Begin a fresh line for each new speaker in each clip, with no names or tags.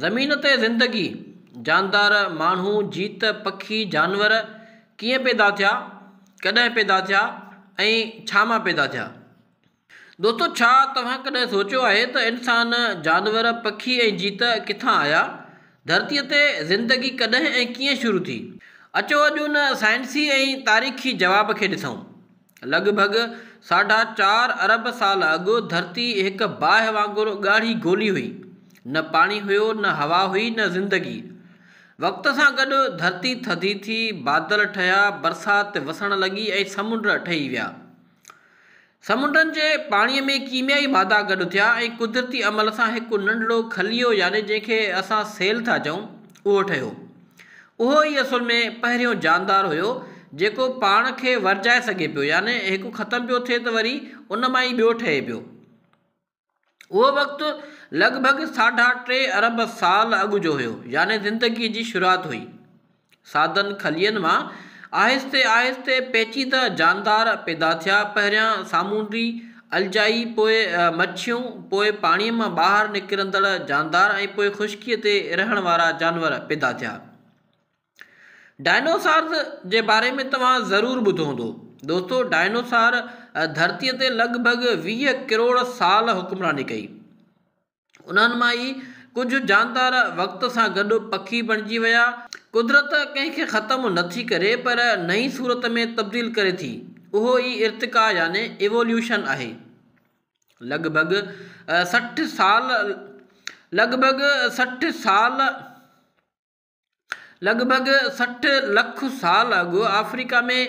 زمين تي زندگي، جاندار، ماڻهو، جيت، پکي، جانور ڪيئن پيدا ٿيا، ڪڏهن پيدا ٿيا ۽ ڇا مان پيدا ٿيا؟ دوستو ڇا توهان ڪڏهن سوچيو آهي ته انسان، جانور، پکي ۽ جيت ڪٿان آيا؟ ڌرتي تي زندگي ڪڏهن ۽ ڪيئن شروع ٿي؟ اچو اڄ ان سائنسي ۽ تاريخي جواب کي ڏسون. لڳ ڀڳ ساڍا چار ارب سال اڳ ڌرتي هڪ باهه وانگر ڳاڙهي گولي هئي. نه پاڻي هيو، نه هوا هئي، نه زندگي. وقت سان گڏ ڌرتي ٿڌي ٿي، بادل ٺهيا، برسات وسڻ لڳي ۽ سمنڊ ٺهي ويا. سمنڊن جي پاڻي ۾ ڪيميائي مادا گڏ ٿيا ۽ قدرتي عمل سان هڪ ننڍڙو خليو يعني جنهن کي اسان سيل ٿا چئون اهو ٺهيو. اهو ئي اصل ۾ پهريون جاندار هيو جيڪو پاڻ کي ورجائي سگهي پيو يعني هڪ ختم پيو ٿئي ته وري ان مان ئي ٻيو ٺهي پيو. اهو وقت لڳ ڀڳ ساڍا ٽي ارب سال اڳ جو هيو يعني زندگيء جي شروعات هئي. سادن کلين مان آهستي آهستي پيچيده جاندار پيدا ٿيا پهريان سامونڊي الجائي، پوء مڇيون، پوء پاڻيء مان ٻاهر نڪرندڙ جاندار ۽ پوء خشڪيء تي رهڻ وارا جانور پيدا ٿيا. ڊائنوسارز جي باري ۾ توهان ضرور ٻڌو هوندو. دوستو، ڊائنوسار ڌرتيء تي لڳ ڀڳ ويهه ڪروڙ سال حڪمراني ڪئي. انهن مان ئي ڪجهه جاندار وقت سان گڏ پکي بڻجي ويا. قدرت ڪنهن کي ختم نه ٿي ڪري پر نئين صورت ۾ تبديل ڪري ٿي. اهو ئي ارتقا يعني Evolution آهي. لڳ ڀڳ سٺ سال لڳ ڀڳ سٺ سال. لڳ ڀڳ سٺ لک سال اڳ آفريڪا ۾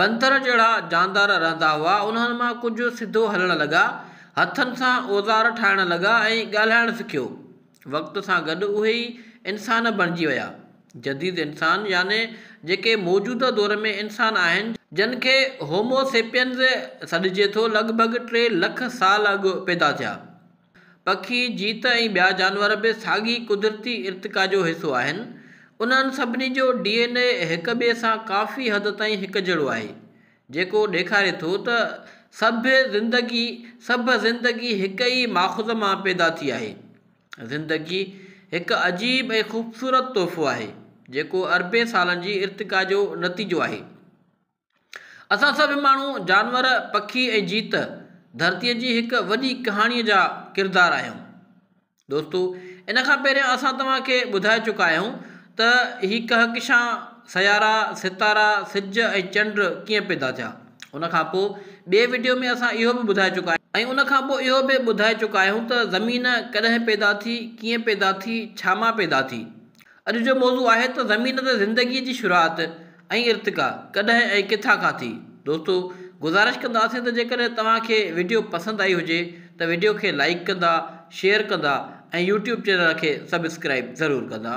بندر جهڙا جاندار رهندا هئا انهن مان ڪجهه سڌو هلڻ لڳا هٿن سان اوزار ٺاهڻ لڳا ۽ ڳالهائڻ سکيو وقت سان گڏ اهي ئي انسان بڻجي ويا جديد انسان يعني جيڪي موجوده دور ۾ انسان آهن جن کي هومو سيپينز سڏجي ٿو لڳ ڀڳ ٽي لک سال اڳ پيدا ٿيا. پکي، جيت ۽ ٻيا جانور به ساڳي قدرتي ارتقا جو حصو آهن. انهن سڀني جو ڊي اين اي هڪ ٻئي سان ڪافي حد تائين هڪجهڙو آهي، جيڪو ڏيکاري ٿو ته سڀ زندگي سڀ زندگي هڪ ئي ماخذ مان پيدا ٿي آهي. زندگي هڪ عجيب ۽ خوبصورت تحفو آهي، جيڪو اربين سالن جي ارتقا جو نتيجو آهي. اسان سڀ ماڻهو، جانور، پکي ۽ جيت ڌرتيء جي هڪ وڏي ڪهاڻيء جا ڪردار آهيون. دوستو! ان کان پهريان اسان توهان کي ٻڌائي چڪا آهيون ته هي ڪهڪشان، سيارا، ستارا، سج ۽ چنڊ ڪيئن پيدا ٿيا. ان کان پوء ٻئي وڊيو ۾ اسان اهو به ٻڌائي چڪا آهيون. ۽ ان کان پوء اهو به ٻڌائي چڪا آهيون ته زمين ڪڏهن پيدا ٿي، ڪيئن پيدا ٿي، ڇا مان پيدا ٿي. اڄ جو موضوع آهي ته زمين تي زندگيء جي شروعات ۽ ارتقا ڪڏهن ۽ ڪٿان کان ٿي. دوستو گذارش ڪنداسين ته جيڪڏهن توهان کي وڊيو پسند آئي هجي ته وڊيو کي لائيڪ ڪندا، شيئر ڪندا ۽ يوٽيوب چينل کي سبسڪرائيب ضرور ڪندا.